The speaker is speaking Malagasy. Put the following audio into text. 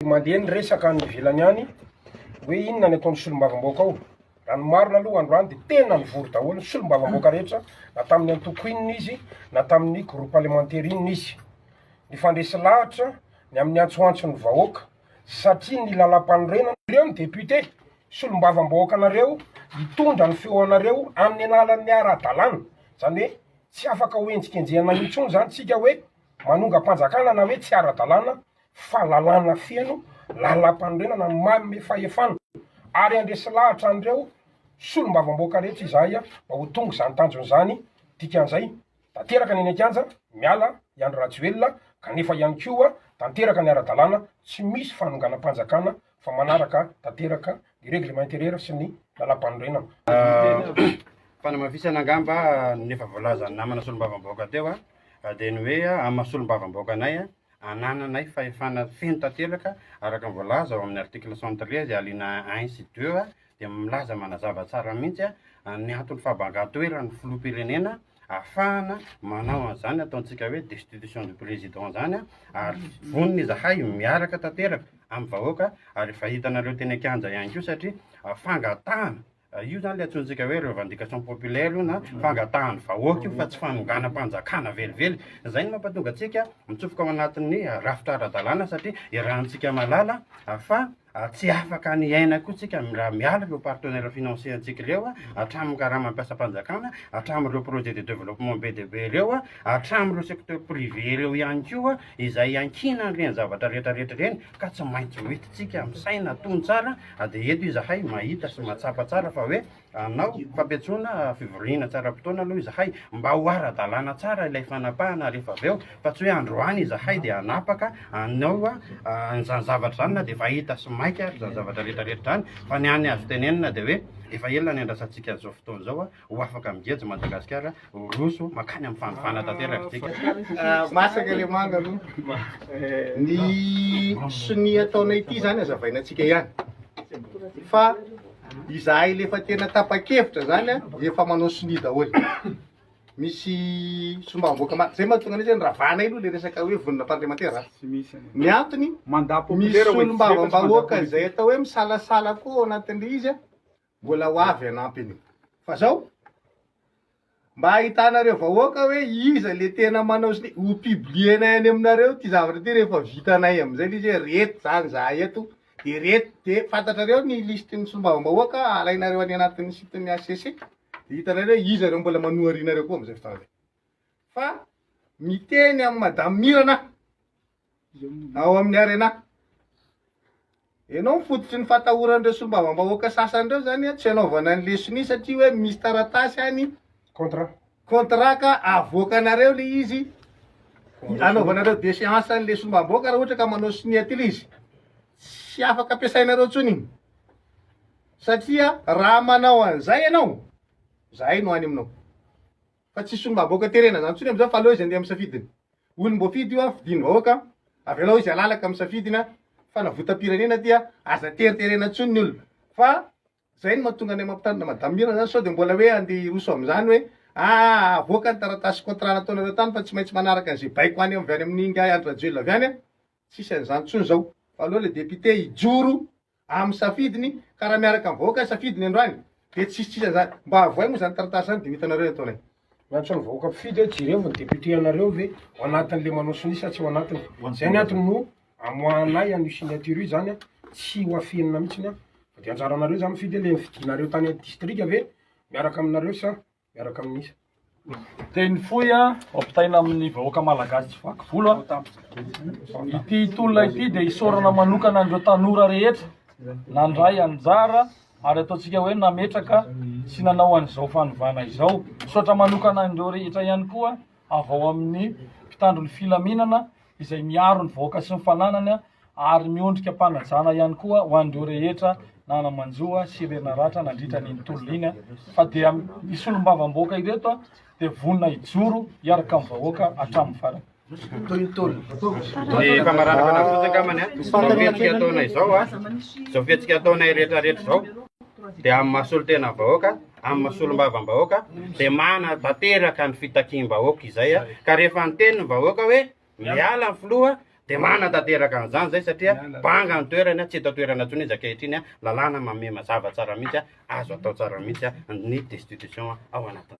Mandeha ny resaka any ivelany any hoe inona ny ataon'ny solombavambahoaka ao. Raha ny marina aloha androany dia tena nivory daholo ny solombavambahoaka rehetra na tamin'ny antoko inona izy na tamin'ny groupe parlementaire inona izy. Nifandresy lahatra ny amin'ny antsoantson'ny vahoaka satria ny lalam-panorenana ireo ny député solombavambahoaka anareo hitondra ny feo anareo amin'ny alalan'ny ara-dalàna. Izany hoe tsy afaka hoenjikenjehina intsony izany isika hoe manongam-panjakana na hoe tsy ara-dalàna fa lalàna feno lalampanorenana manome fahefana ary handresy lahatra an'ireo solombavamboaka rehetra izahay mba ho tonga izany tanjona izany, dikan'izay tanteraka ny eny an-kianja miala i Andry Rajoelina kanefa ihany koa tanteraka ny ara-dalàna tsy misy fanonganam-panjakana fa manaraka tanteraka ny règlement intérieur sy ny lalampanorenana. Fanamafisana angamba ny efa voalazan'ny namana solombavamboaka teo dia ny hoe amin'ny maha solombavamboaka anay Anananay fahefana feno tanteraka, araka ny voalaza ao amin'ny article cent treize alinéa un sy deux, dia milaza manazava tsara mihitsy ny anton'ny fahabangan-toeran'ny filoham-pirenena ahafahana manao an'izany ataontsika hoe destitution du président izany, ary vonona izahay miaraka tanteraka amin'ny vahoaka, ary efa hitanareo teny an-kianja ihany koa satria fangatahana Io izany ilay antsointsika hoe revendication populaire io na fangatahan'ny vahoaka io fa tsy fanonganam-panjakana velively. Izay no mampatonga antsika mitsofoka ao anatin'ny rafitra ara-dalàna satria iarahantsika mahalala fa tsy afaka ny aina koa tsika raha miala ireo partenaires financiers antsika ireo, hatramin'ny karama mpiasam-panjakana, hatramin'ireo projets de développement be dia be ireo, hatramin'ireo secteur privé ireo ihany koa. izay iankiana an'ireny zavatra rehetra rehetra ireny ka tsy maintsy hoentintsika misaina hatony tsara ah, dia eto izahay mahita sy mahatsapa tsara fa hoe hanao ah, fampiantsoana ah, fivoriana tsaram-potoana aloha izahay mba ho ara-dalàna tsara ilay fanapahana rehefa avy eo fa tsy hoe androany izahay dia hanapaka anao an'izany zavatra izany na dia efa hita sy maika ary izany zavatra rehetra rehetra izany fa ny any azo tenenina dia hoe efa ela ny andrasantsika an'izao fotoana izao ho afaka migejo Madagasikara ho roso makany amin'ny fanovana tanteraka tsika. Ah, masaka le manga aloha. Ny sonia ataonay ity izany hazavaina antsika ihany. Fa izahay le efa tena tapa-kevitra zany efa manao sonia daholo. Misy sombam-boaka ma- zay mahatonga anay zany ravanay aloha le resaka hoe vonona parlemantera. Ny antony misy solombavambahoaka izay atao hoe misalasala koa ao anatin'ilay izy Mbola ho avy hanampy an'io. Fa zao, mba ahitanareo vahoaka hoe iza le tena manao sy ny, ho publier-nay any aminareo ty zavatra ty rehefa vitanay amizay le izy hoe reto zany zahay eto, de reto, de fantatrareo ny liste ny solombavambahoaka alainareo any anatin'ny site ny HCC, de hitanareo hoe iza reo mbola manoharianareo koa amizay fotoana zay. Fa miteny amin'i madame Mirana aho. ao amin'ny Arena. Ianao no fototry ny fatahoran'ireo solombavambahoaka sasany ireo izany hoe tsy hanaovana ny leson'iny satria hoe misy taratasy any Contrat. contrat ka avoakanareo ilay izy anaovanareo déchéance an'ilay solombavambahoaka raha ohatra ka manao signature izy. Tsy afaka ampiasainareo intsony iny. Satria raha manao an'izay ianao, izahay no any aminao. Fa tsy solombavambahoaka terena zany tsony amzao fa aleo izy andeha misafidy ny olomboafidy io a fidiny vahoaka avelao izy alalaka misafidy ny fanavotampirenena aty a aza teriterena tsony ny olona fa zay no matonga anay mampitandrina madame mirana zany sao de mbola hoe andeha hiroso amzany hoe aa avoaka ny taratasy contrat nataonareo tany fa tsy maintsy manaraka anze baiko any avy any aminy ingahy andry rajoelina avy any a Tsisy an'izany tsony zao fa aleo le député hijoro amin'ny safidiny ka raha miaraka amin'ny vahoaka ny safidiny androany de tsisy tsisy an'izany. Mba avoay moa zany taratasy zany de ho hitanareo ny ataonay. Ny antsoin'ny vahoaka mpifidy hoe jereo ny député anareo ve ao anatiny le manao sonia sa tsy ao anatiny. Zay ny antony no amoahanay an'io signature io zany tsy ho afenina mitsiny fa de anjaranareo zany mifidy hoe le nifidinareo tany distrika ve miaraka aminareo sa miaraka amin'ny teny fohy a ampitaina amin'ny vahoaka malagasy tsy vaky volo a ity tolona ity dia isaorana manokana an'ireo tanora rehetra nandray anjara ary ataontsika hoe nametraka sy nanao an'izao fanovana izao misaotra manokana an'ireo rehetra ihany koa avy ao amin'ny mpitandro ny filaminana izay miaro ny vahoaka sy ny fananany ary miondrika am-panajana ihany koa ho an'ireo rehetra nanamanjo sy re naratra nandritra an'iny tolona iny fa dia ny solombavamboaka ireto dia vonona hijoro hiaraka amin'ny vahoaka hatramin'ny farany. Ny famarana fanafody kamany a, izao fihetsika ataonay izao a, izao fihetsika ataonay rehetra rehetra izao dia amin'ny maha solontenan'ny vahoaka amin'ny maha solombavambahoaka dia manana tanteraka ny fitakiam-bahoaka izay ka rehefa niteny ny vahoaka hoe miala ny filoha dia manana tanteraka an'izany izay satria banga ny toerany tsy eto toerana intsony izy ankehitriny lalàna mamema zava tsara mihitsy azo atao tsara mihitsy ny destitution ao anatin'ny